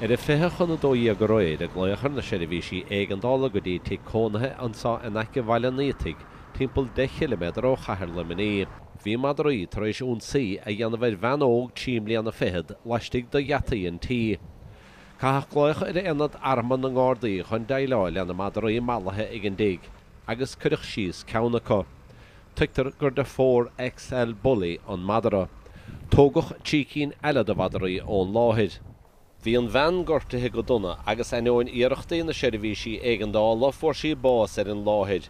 Ar a fiche chun a dó dhéag aréir a glaodh ar na seirbhísí éigeandála go dtí tigh cónaithe anseo in aice Bhaile an Fhaoitigh, timpeall deich chiliméadar ó chathair Luimnigh. Bhí madraí tar éis ionsaí a dhéanamh ar bhean óg trí mbliana fichead laistigh de gheataí an tí. Caitheadh glaoch ar aonad armtha na nGardaí chun déileáil lena madraí mallaithe ag an dtigh agus cuireadh síos ceann acu. Tuigtear gur de phór XL Bully an madara. Tógadh trí cinn eile de mhadaraí ón láthair. Bhí an bhean gortaithe go dona agus ainneoin iarrachtaí na seirbhísí éigeandála fuair sí bás ar an láthair.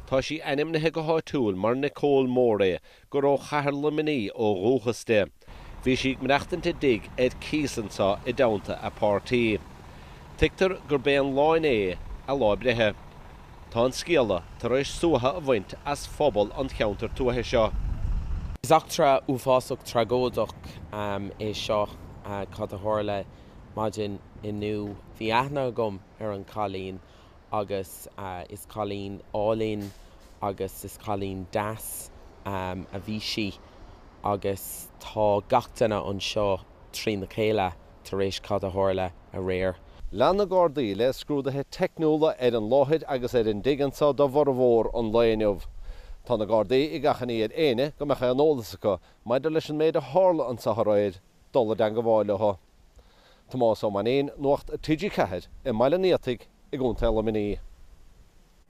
Tá sí ainmnithe go háitiúil mar Nicole Morey gur ó Chathair Luimnigh ó dhúchas di. Bhí sí ag maireachtaint i dtigh ar cíos anseo i dteannta a páirtí. Tuigtear gurb é an lá inné a lá breithe. Tá an scéala tar éis suaitheadh a bhaint as phobal an cheantair tuaithe seo. Is eachtra uafásach tragóideach é seo cad a tharla maidin inniu. Bhí aithne agam ar an cailín agus is cailín álainn agus is cailín deas a bhí sí agus tá gach duine anseo trína chéile tar éis cad a tharla aréir. Lean na Gardaí le scrúduithe teicniúla ar an láthair agus ar an dtigh anseo do bhformhór an lae inniu. Tá na Gardaí ag achainí ar éinne go mbeadh aon eolas acu maidir leis an méid a tharla anseo aréir dul i dteangmháil leo. Tomás Ó Mainín, Nuacht TG4 i mBaile an Fhaoitigh i gContae Luimnigh.